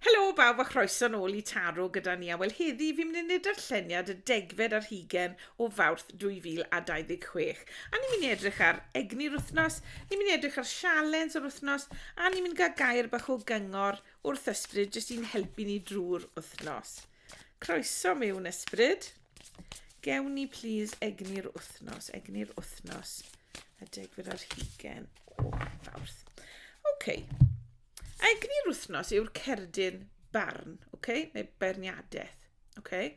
Helo bawb a chroeso'n ôl i Taro gyda ni a wel heddi fi'n mynd i wneud darlleniad y degfed ar hugen o Fawrth 2026 a ni'n mynd i edrych ar egni'r wythnos, ni'n mynd i edrych ar sialens yr wythnos a ni'n mynd i gael gair bach o gyngor wrth ysbryd jyst i'n helpu ni drwy'r wythnos. Croeso mewn ysbryd. Gewn ni plîs egni'r wythnos, egni'r wythnos y degfed ar hugen o Fawrth. Oce. Okay. Egni'r wythnos yw'r cerdyn barn, okay? neu beirniadaeth. Okay?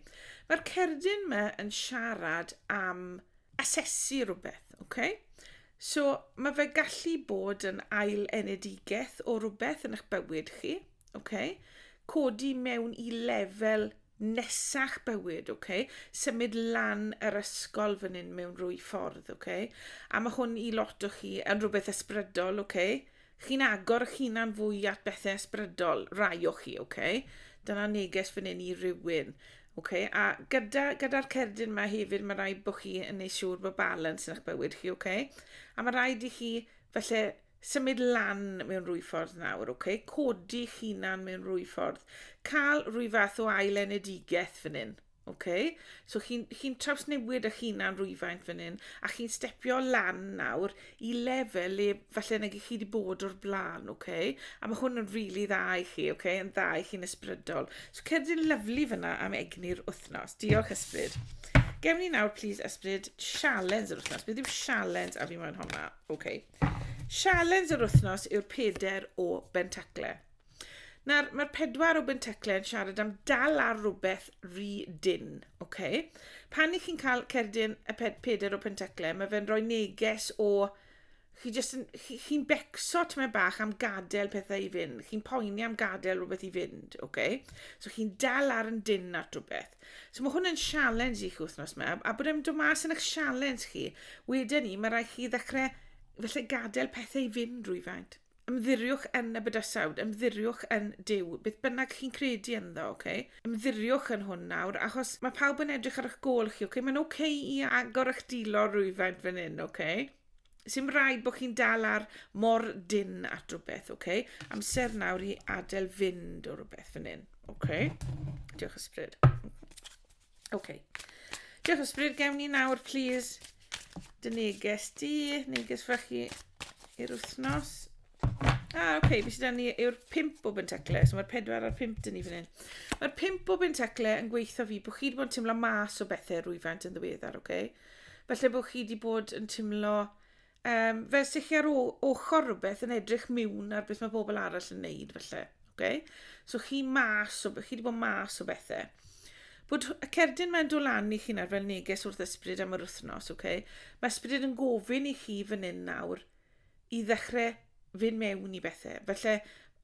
Mae'r cerdyn yma yn siarad am asesu rhywbeth. Okay? So mae fe gallu bod yn ail enedigaeth o rhywbeth yn eich bywyd chi. Okay? Codi mewn i lefel nesach bywyd, okay? symud lan yr ysgol fan hyn mewn rwy ffordd. Okay? A mae hwn i lot o chi yn rhywbeth ysbrydol, okay? Chi'n agor eich hunan fwy at bethau ysbrydol, rai o chi, ok? Dyna neges fan hyn i rywun. Okay? A gyda'r gyda cerdyn yma hefyd, mae rhaid bod chi yn ei siŵr bod balans yn eich bywyd chi, okay? A mae rhaid i chi, felly, symud lan mewn rwy ffordd nawr, okay? Codi chi'n hunan mewn rwy ffordd. Cael rwy fath o ail enedigaeth fan hyn. Ok, so chi'n chi trawsnewid eich hunan rwyfaint fan hyn, a chi'n stepio lan nawr i lefel le falle nag chi wedi bod o'r blaen, ok? A mae hwn yn rili really dda i chi, ok? Yn dda i chi'n ysbrydol. So cedd i'n lyflu fyna am egni'r wythnos. Diolch ysbryd. Gewn ni nawr, please, ysbryd, sialens yr wythnos. Beth yw sialens a fi moyn hwnna? Ok. Sialens yr wythnos yw'r peder o bentacle. Nawr, mae'r pedwar o Benteclau yn siarad am dal ar rhywbeth rhy dyn. Okay? Pan i chi'n cael cerdyn y ped peder o Penteclau, mae fe'n rhoi neges o... Chi jyst yn... Chi'n chi becso tymed bach am gadael pethau i fynd. Chi'n poeni am gadael rhywbeth i fynd. Okay? So chi'n dal ar yn dyn at rhywbeth. So mae hwn yn sialens i chi wythnos yma. A bod e'n dod mas yn eich sialens chi, wedyn ni, mae rhaid chi ddechrau felly gadael pethau i fynd rwyfaint. Ymddiriwch yn y bydysawd, ymddiriwch yn Duw, beth bynnag chi'n credu ynddo, oce? Okay? Ymddiriwch yn hwn nawr, achos mae pawb yn edrych ar eich gol chi, oce? Okay? Mae'n oce okay i agor eich dilo rwyfaint fan hyn, oce? Okay? Sy'n rhaid bod chi'n dal ar mor dyn at rhywbeth, oce? Okay? Amser nawr i adael fynd o rhywbeth fan hyn, oce? Okay? Diolch ysbryd. Ok. Diolch o sbryd. Gewn ni nawr, please, dy neges di, neges fach i i'r wythnos. Ah, ok, fi sydd ni yw'r pimp o bentacle, so mae'r pedwar a'r pimp dyn ni fan hyn. Mae'r pimp o bentacle yn gweithio fi bod chi wedi bod yn teimlo mas o bethau rwyfant yn ddiweddar, ok? Felly bod chi wedi bod yn teimlo Um, fe sy chi ar ochr rhywbeth yn edrych miwn ar beth mae pobl arall yn neud, felly. Okay? So chi mas o, chi wedi bod mas o bethau. Bod y cerdyn mae'n dod lan i chi'n ar fel neges wrth ysbryd am yr wythnos, okay? Mae ysbryd yn gofyn i chi fan hyn nawr i ddechrau fynd mewn i bethe. Felly,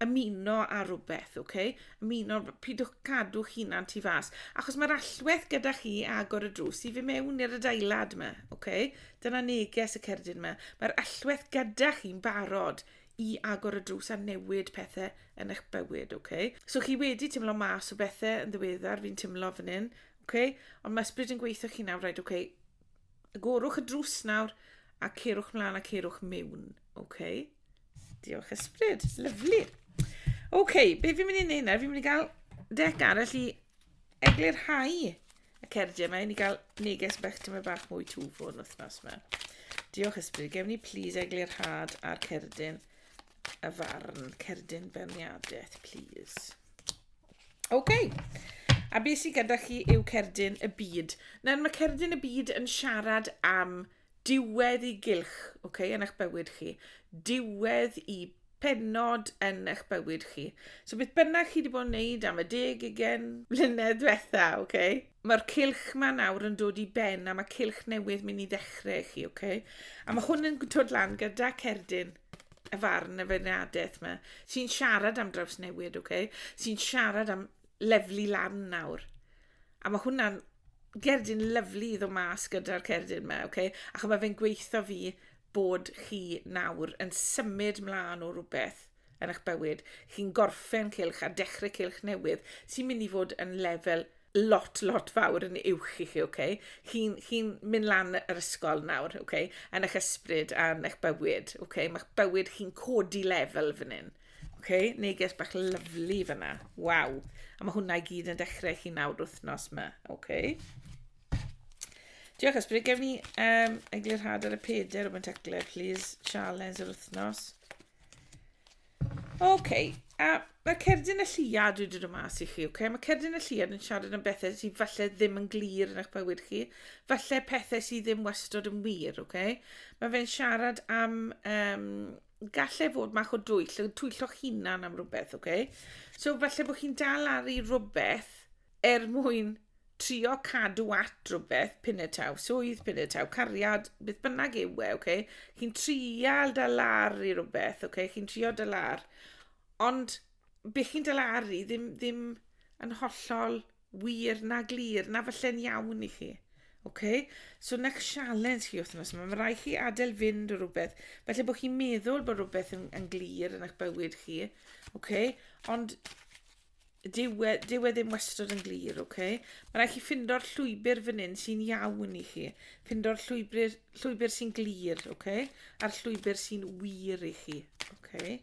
ymuno â rhywbeth, ok? Ymuno, pidwch cadw hunan tu fas. Achos mae'r allwedd gyda chi agor y drws i fi mewn i'r adeilad yma, ok? Dyna neges y cerdyn yma. Mae'r allwedd gyda chi'n barod i agor y drws a newid pethau yn eich bywyd, ok? So chi wedi teimlo mas o bethau yn ddiweddar, fi'n teimlo fan hyn, ok? Ond mae ysbryd yn gweithio chi nawr, right, ok? Agorwch y drws nawr a ceirwch mlaen a ceirwch mewn. OK. Diolch ysbryd. Lyflu. OK, be fi'n mynd i wneud nawr? Fi'n mynd i gael dec arall i eglurhau y cerdiau yma. I ni gael neges bach dyma bach mwy twfo yn wythnos yma. Diolch ysbryd. Gewn ni please eglurhad ar cerdyn y farn, cerdyn berniadaeth, please. OK. A beth sydd gyda chi yw cerdyn y byd. Nawr mae cerdyn y byd yn siarad am diwedd i gylch okay, yn eich bywyd chi. Diwedd i penod yn eich bywyd chi. So beth bynnag chi wedi bod yn neud am y deg ugen mlynedd diwetha, okay? mae'r cilch ma nawr yn dod i ben a mae cilch newydd mynd i ddechrau chi, okay? A mae hwn yn dod lan gyda cerdyn y farn y feirniadaeth yma, sy'n siarad am drawsnewid, okay? sy'n siarad am leflu lan nawr. A mae hwnna'n gerdyn lyflu i ddod mas gyda'r cerdyn yma, okay? ac mae fe'n gweithio fi bod chi nawr yn symud mlaen o rhywbeth yn eich bywyd. Chi'n gorffen cilch a dechrau cilch newydd sy'n mynd i fod yn lefel lot, lot fawr yn uwch i chi, oce? Okay? Chi'n chi mynd lan yr ysgol nawr, oce? Okay? Yn eich ysbryd a yn eich bywyd, oce? Okay? Mae'ch bywyd chi'n codi lefel fan hyn. Oce? Okay? Neges bach lyflu fyna. Waw. A mae hwnna i gyd yn dechrau chi nawr wythnos yma, oce? Okay? Diolch ysbryd, gef ni um, eglurhad ar y peder o Bentacleb, please, sialens yr wythnos. Ok, a mae cerdyn y lliad dwi wedi dod mas i chi, ok? Mae cerdyn y lliad yn siarad am bethau sydd falle ddim yn glir yn eich bywyd chi, falle pethau sydd ddim wastod yn wir, ok? Mae fe'n siarad am um, gallu fod mach o dwyll, twyllo'ch hunan am rhywbeth, ok? So falle bod chi'n dal ar i rhywbeth er mwyn trio cadw at rhywbeth, pinetaw, swydd, pinetaw, cariad, beth bynnag yw e, okay? chi'n trial dalar i rhywbeth, okay? chi'n trio dalar, ond be chi'n dalar i ddim, ddim yn hollol wir na glir, na falle'n iawn i chi. Okay? So na sialens chi wythnos yma, mae rai chi adael fynd o rhywbeth. Felly bod chi'n meddwl bod rhywbeth yn, yn glir yn eich bywyd chi, okay? ond Dyw e, dyw e ddim wastad yn glir, oce? Okay? Mae rhaid chi ffindo'r llwybr fan hyn sy'n iawn i chi. Ffindo'r llwybr, llwybr sy'n glir, oce? Okay? A'r llwybr sy'n wir i chi, oce? Okay?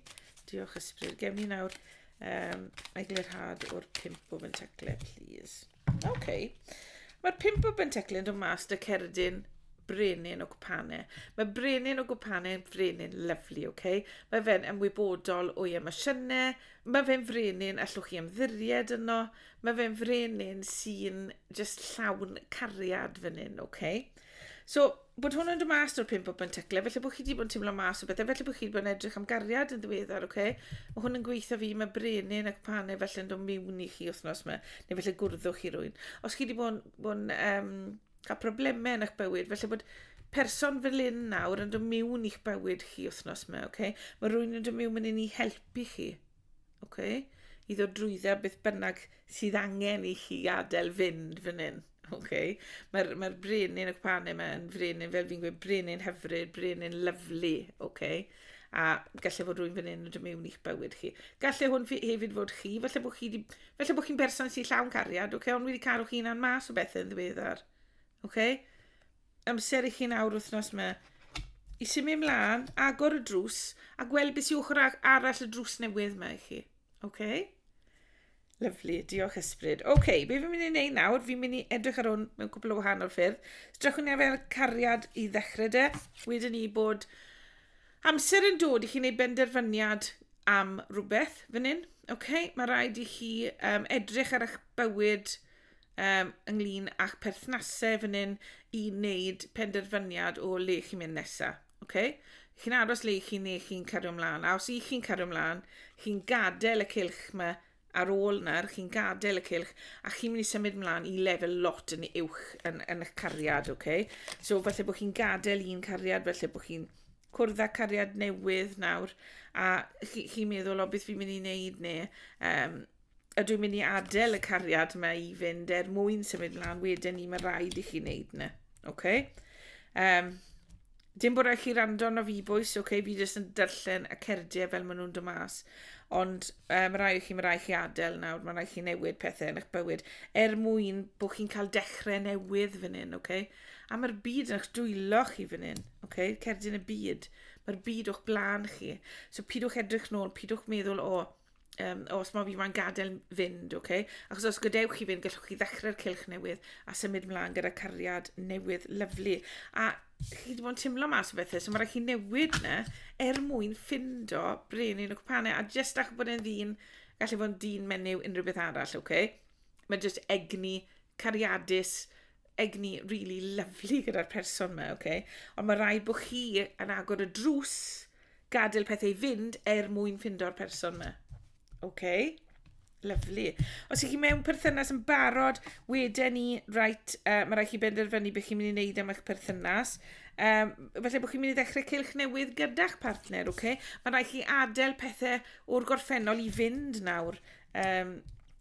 Diolch ysbryd. Gewn ni nawr um, eglurhad o'r pimp o fentaclau, please. Oce. Okay. Mae'r pimp o Benteclyn dod mas dy cerdyn brenin o gwpane. Mae brenin o gwpane yn frenin lyflu, oce? Okay? Mae fe'n ymwybodol o'i emosiynau, mae fe'n frenin allwch chi ymddiried yno, mae fe'n frenin sy'n just llawn cariad fan hyn, oce? Okay? So, bod hwn yn dod mas o'r pum bobman teclau, felly bod chi wedi bod yn teimlo mas o bethau, felly bod chi wedi bod yn edrych am gariad yn ddiweddar, oce? Okay? Mae hwn yn gweithio fi, mae brenin ac panau felly'n dod miwn i chi wythnos yma, neu felly gwrddwch chi rwy'n. Os chi wedi bod yn, bod yn um, cael problemau yn eich bywyd, felly bod person fel un nawr yn dod miwn i'ch bywyd chi wythnos yma, oce? Okay? Mae rwy'n yn dod miwn yn un i helpu chi, Oce? I ddod drwydde a beth bynnag sydd angen i chi adael fynd fan hyn. Oce? Mae'r mae brenin y cwpanau yma yn frenin, fel fi'n gweud, brenin hyfryd, brenin lyflu. Oce? A gallai fod rwy'n fan hyn yn dymu i'ch bywyd chi. Gallai hwn hefyd fod chi, felly bod chi di, felly bod chi'n berson sy'n llawn cariad, oce? Ond wedi caru chi na'n mas o bethau yn ddiweddar. Oce? amser i chi'n awr wythnos yma i symud ymlaen, agor y drws a gweld beth sy'n ochr arall y drws newydd yma i chi. OK? Lyflu, diolch ysbryd. OK, okay, be fi'n mynd i wneud nawr, fi'n mynd i edrych ar hwn mewn cwbl o wahanol ffyrdd. Strachwn ni fel cariad i ddechrau de, wedyn ni bod amser yn dod i chi wneud benderfyniad am rhywbeth fan hyn. OK, mae rhaid i chi um, edrych ar eich bywyd um, ynglyn â'ch perthnasau fan hyn i wneud penderfyniad o le chi'n mynd nesaf. Okay? Chi'n aros le chi neu chi'n cario ymlaen. A os i chi'n cario ymlaen, chi'n gadael y cilch yma ar ôl na'r chi'n gadael y cilch a chi'n mynd i symud ymlaen i lefel lot yn uwch yn, yn eich cariad, okay? So falle bod chi'n gadael un cariad, falle bod chi'n cwrdd â cariad newydd nawr a chi'n chi meddwl o beth fi'n mynd i wneud neu um, ydw i'n mynd i adael y cariad yma i fynd er mwyn symud mlaen wedyn ni, mae rhaid i chi wneud yna. Okay? Um, dim bod rhaid chi rando na fi bwys, okay? fi jyst yn darllen y cerdiau fel maen nhw'n dod mas. Ond um, mae rhaid i chi, mae rhaid chi adael nawr, mae rhaid chi newid pethau yn eich bywyd er mwyn bod chi'n cael dechrau newydd fan hyn, okay? A mae'r byd yn eich dwylo chi fan hyn, okay? cerdyn y byd. Mae'r byd o'ch blaen chi. So pidwch edrych nôl, pidwch meddwl, o, oh, um, os mae fi mae'n gadael fynd, oce? Okay? Achos os gadewch chi fynd, gallwch chi ddechrau'r cilch newydd a symud mlaen gyda cariad newydd lyflu. A chi wedi bod yn teimlo mas o bethau, so mae rhaid chi newid yna er mwyn ffindo brenin y cwpanau. A jyst ach bod e'n ddyn, gallu bod yn dyn menyw unrhyw beth arall, oce? Okay? Mae jyst egni, cariadus, egni rili lyfli gyda'r person 'ma, oce? Ond ma' raid bo' chi yn agor y drws, gadael pethau i fynd er mwyn ffindo'r person 'ma. Oce? Lyfli. Os ych chi mewn perthynas yn barod, weden ni, reit, uh, mae rhaid chi benderfynu beth chi'n mynd i wneud am eich perthynas. Um, felly bod chi'n mynd i ddechrau cylch newydd gyda'ch partner, oce? Okay? Mae rhaid chi adael pethau o'r gorffennol i fynd nawr. Um,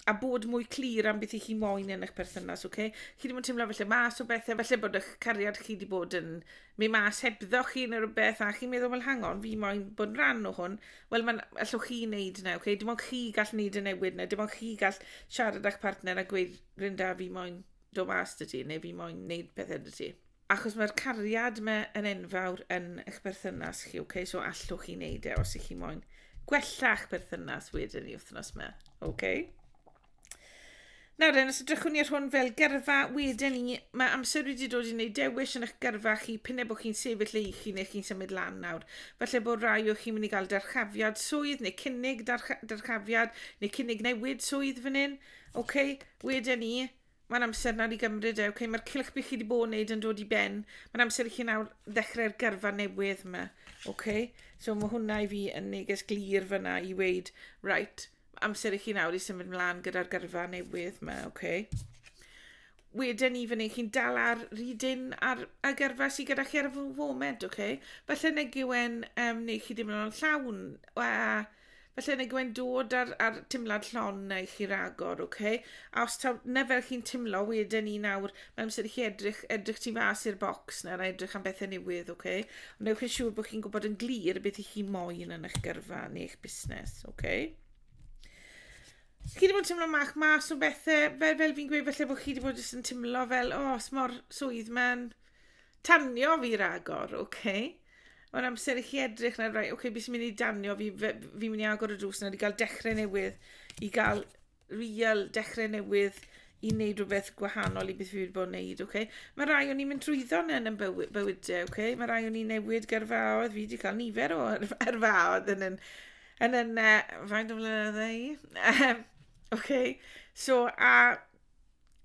a bod mwy clir am beth i chi moyn yn eich perthynas, oce? Okay? Chi ddim yn teimlo felly mas o bethau, felly bod eich cariad chi wedi bod yn mynd mas hebddo chi neu rhywbeth, a chi'n meddwl, wel, hang on, fi moyn bod yn rhan o hwn. Wel, mae'n allwch chi wneud yna, oce? Okay? Dim ond chi gall wneud y newid yna, dim ond chi gall siarad â'ch partner a gweud, Rynda, fi moyn do mas dy ti, neu fi moyn wneud pethau dy ti. Achos mae'r cariad mae yn enfawr yn eich berthynas chi, ok? So allwch chi wneud e os ych chi moyn gwella eich berthynas wedyn i wythnos yma, ok? Nawr den, os ydrychwn ni ar hwn fel gyrfa, wedyn ni, mae amser wedi dod i wneud dewis yn eich gyrfa chi, pyn e bod chi'n sefyll ei chi neu chi'n symud lan nawr. Felly bod rai o chi'n mynd i gael darchafiad swydd neu cynnig darchafiad neu cynnig newid swydd fan hyn. OK, wedyn ni, Mae'n amser nawr i gymryd e, okay? Mae'r cylch bych chi wedi bod yn neud yn dod i ben. Mae'n amser i chi nawr ddechrau'r gyrfa newydd yma, okay? So mae hwnna i fi yn neges glir fyna i weid, right, amser i chi nawr i symud mlaen gyda'r gyrfa newydd yma, okay? Wedyn ni fyny, chi'n dal ar rydyn ar y gyrfa sy'n gyda chi ar y foment, okay? Felly neg yw e'n um, neu chi ddim yn o'n llawn, a Felly neu gwe'n dod ar, ar timlad llon i chi ragor, oce? Okay? A os taw na fel chi'n timlo, wedyn ni nawr, mae'n amser i chi edrych, edrych tu fas i'r bocs na a edrych am bethau newydd, oce? Okay? Ond newch chi'n siŵr bod chi'n gwybod yn glir beth i chi moyn yn eich gyrfa neu eich busnes, oce? Okay? Chi wedi bod yn timlo mach mas o bethau, fel, fel fi'n gweud, felly bod chi wedi bod jyst yn timlo fel, o, oh, smor swydd mae'n tanio fi ragor, oce? Okay? Mae'n amser i chi edrych nawr, right, okay, beth sy'n mynd i danio fi, fi'n mynd i agor y drws nawr i gael dechrau newydd, i gael real dechrau newydd i wneud rhywbeth gwahanol i beth fi wedi bod yn wneud, okay? Mae rai o'n i'n mynd trwyddo yn yn bywyd, bywydau, okay? Mae rai o'n i'n newid gyrfaodd, fi wedi cael nifer o yrfaodd yn yn, yn yn, uh, faint o flynyddau, okay? So, a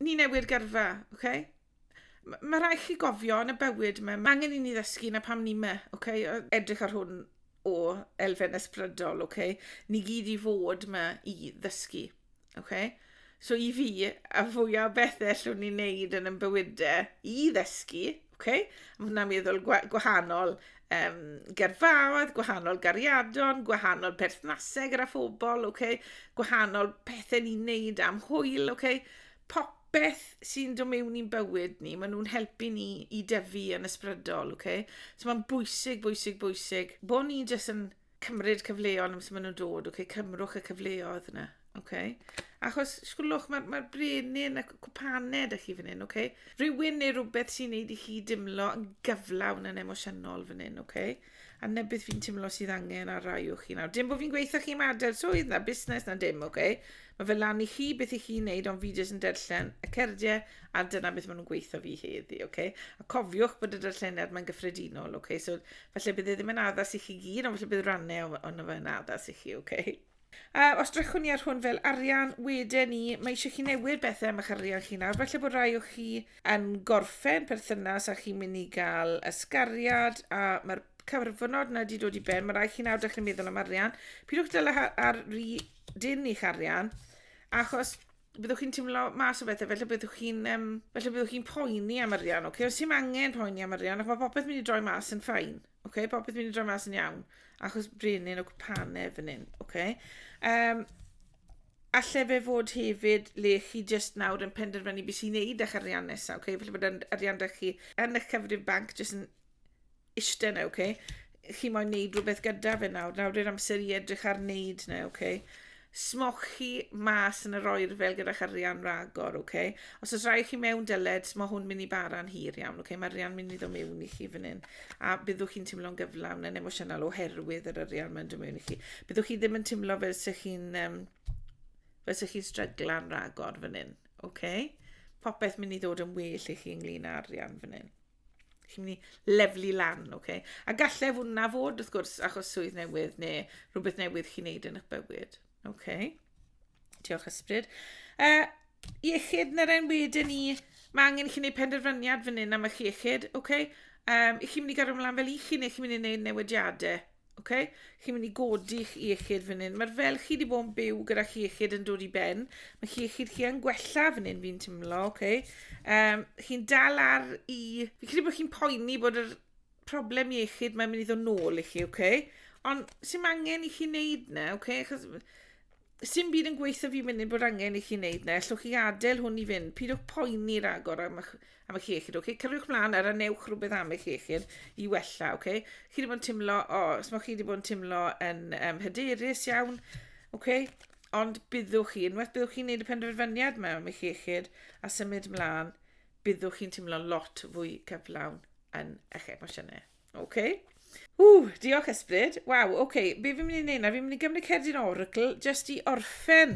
ni newid gyrfa, okay? M- mae rhaid chi gofio yn y bywyd yma, mae angen i ni ddysgu na pam ni yma, okay? edrych ar hwn o elfen ysbrydol, okay? ni gyd i fod yma i ddysgu. Okay? So i fi, a fwyaf bethau allwn ni wneud yn ymbywydau i ddysgu, okay? mae hwnna'n meddwl gwahanol um, gerfaoedd, gwahanol gariadon, gwahanol perthnasau gyda phobl, okay? gwahanol pethau ni'n wneud am hwyl, okay? popeth sy'n dod mewn i'n bywyd ni, maen nhw'n helpu ni i dyfu yn ysbrydol, oce? So mae'n bwysig, bwysig, bwysig, bod ni jyst yn cymryd cyfleon amser maen nhw'n dod, oce? Cymrwch y cyfleoedd yna, oce? Achos, sgwlwch, mae'r ma brenin a cwpaned ych chi fan hyn, oce? Rhywun neu rhywbeth sy'n neud i chi dimlo yn gyflawn yn emosiynol fan hyn, oce? A 'na beth fi'n teimlo sydd angen ar rai o chi nawr. Dim bod fi'n gweithio chi am adael swydd na busnes na dim, oce? Okay? Mae fe lan i chi beth i chi'n neud, ond fi jyst yn darllen y cerdiau a dyna beth maen nhw'n gweithio fi heddi, oce? Okay? A cofiwch bod y darlleniad mae'n gyffredinol, oce? Okay? So, falle bydd e ddim yn addas i chi gyd, ond falle bydd rannau o'n o fe yn addas i chi, oce? Okay? A os drychwn ni ar hwn fel arian, wedyn ni, mae eisiau chi newid bethau am eich arian chi nawr. Felly bod rai o chi yn gorffen perthynas a chi'n mynd i gael ysgariad a mae'r cyfrfynod yna wedi dod i ben. Mae rai chi nawr dechrau meddwl am arian. Pidwch dal ar ry dyn i'ch arian, achos byddwch chi'n teimlo mas o bethau, felly byddwch chi'n um, felly byddwch chi'n poeni am arian, oce? Okay? Os angen poeni am arian, ac mae popeth mynd i droi mas yn ffain. Ok, popeth mynd i droi mas yn iawn. Achos brenin o gwpane fan hyn. Ok. Um, alle fe fod hefyd le chi just nawr yn penderfynu beth sy'n neud â'ch arian nesaf. Ok, felly bod arian da chi yn eich cyfrif banc just yn eistedd na, ok. Chi moyn neud rhywbeth gyda fe nawr. Nawr i'r amser i edrych ar neud na, ok. Smowch chi mas yn yr oerfel gyda'ch arian ragor, ok? Os oes rhaid chi mewn dyled, mae hwn mynd i bara'n hir iawn, ok? Mae arian mynd i ddod mewn i chi fan hyn. A byddwch chi'n teimlo'n gyflawn yn emosiynol oherwydd yr arian mae'n dod mewn i chi. Byddwch chi ddim yn teimlo fel sy'ch chi'n um, fel sy'ch chi'n stryglan ragor fan hyn, ok? Popeth mynd i ddod yn well i chi ynglyn â arian fan hyn. chi'n mynd i leflu lan, oce? Okay? A gallai fod na fod, wrth gwrs, achos swydd newydd neu rhywbeth newydd chi'n neud yn eich bywyd, oce? Okay? Diolch ysbryd. Uh, iechyd na ren wedyn ni, mae angen i chi'n neud penderfyniad fan hyn am eich iechyd, oce? Okay? Um, I chi'n mynd i gael ymlaen fel i chi neu chi'n mynd i neud newidiadau, Ok, chi'n mynd i godi chi iechyd fan hyn. Mae'r fel chi wedi bod yn byw gyda chi iechyd yn dod i ben. Mae chi iechyd chi yn gwella fan hyn fi'n teimlo, ok. Um, chi'n dal ar i... Fi credu bod chi'n poeni bod yr problem iechyd mae'n mynd i ddod nôl i chi, ok. Ond sy'n angen i chi wneud na, ok? Chos Sim byd yn gweithio fi munud bod angen i chi wneud na, ellwch chi adael hwn i fynd, pidwch poeni ragor am eich, am eich iechyd, okay? Cyrwch mlaen ar anewch rhywbeth am eich iechyd i wella, okay? Chi wedi bod yn timlo, o, oh, os mae chi wedi bod yn timlo yn um, hyderus iawn, okay? ond byddwch chi, unwaith byddwch chi'n gwneud y penderfyniad mewn am eich iechyd a symud mlaen, byddwch chi'n teimlo lot fwy cyflawn yn eich emosiynau. OK. Ww, diolch ysbryd. Waw, oce, okay. be fi'n mynd i wneud na? Fi'n mynd i gymryd cerdyn oracl, jyst i orffen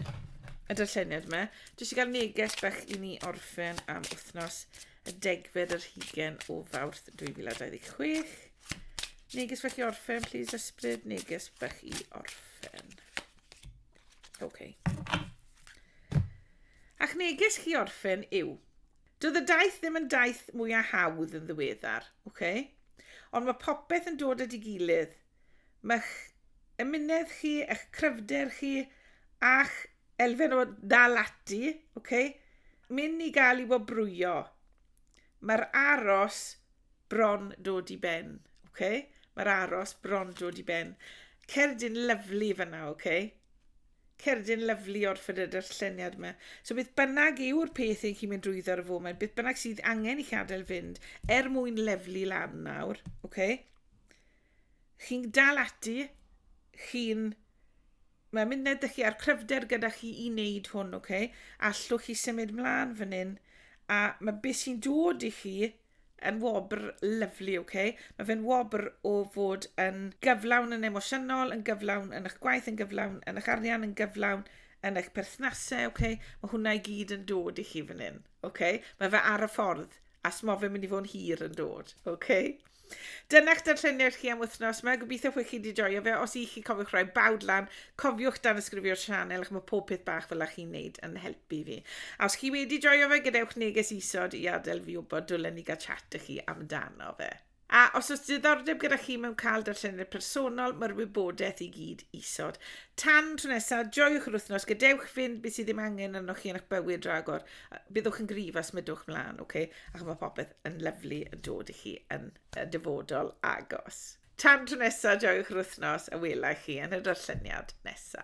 y darlleniad yma. Jyst i gael neges bach i ni orffen am wythnos y degfed yr hugen o fawrth 2026. Neges bach i orffen, please, ysbryd. Neges bach i orffen. Oce. Okay. Ac neges chi orffen yw, Doedd y daith ddim yn daith mwyaf hawdd yn ddiweddar, ok? Ond mae popeth yn dod at ei gilydd. Mae'ch ymunedd chi, eich cryfder chi, a'ch elfen o ddal ati, ok? Mynd i gael ei wobrwyo. Mae'r aros bron dod i ben, ok? Mae'r aros bron dod i ben. Cerdyn lyflu fyna, ok? Cerdyn lyfli o'r ffrydr lleniad yma. So beth bynnag yw'r peth ein chi'n mynd drwyddo ar y foment, beth bynnag sydd angen i chi adael fynd, er mwyn leflu lan nawr, okay? chi'n dal ati, chi'n Mae'n mynd ned chi a'r cryfder gyda chi i wneud hwn, oce? Okay? Allwch chi symud mlaen fan hyn, a mae beth sy'n dod i chi yn wobr lyfli, oce? Okay? Mae fe'n wobr o fod yn gyflawn yn emosiynol, yn gyflawn yn eich gwaith, yn gyflawn yn eich arian, yn gyflawn yn eich perthnasau, oce? Okay? Mae hwnna i gyd yn dod i chi fan hyn, oce? Okay? Mae fe ar y ffordd, a smo fe'n mynd i fod yn hir yn dod, oce? Okay? Dyna'ch darlleniad chi am wythnos yma. Gobeithio chi wedi joio fe. Os i chi cofiwch rhoi bawd lan, Cofiwch danysgrifio'r sianel achos mae pob peth bach fel â chi'n neud yn helpu fi. A os chi wedi joio fe, gadewch neges isod i adael fi wybod dylen ni gael chat â chi amdano fe. A os oes diddordeb gyda chi mewn cael darllenwyr personol, mae'r wybodaeth i gyd isod. Tan tro nesaf, joiwch yr wythnos, gadewch fynd beth sydd ddim angen arnoch chi yn eich bywyd ragor. Byddwch yn grif a smydwch mlaen, oce? Okay? Ac mae popeth yn lyflu yn dod i chi yn y dyfodol agos. Tan tro nesa, joiwch yr wythnos a welai chi yn y darlleniad nesa.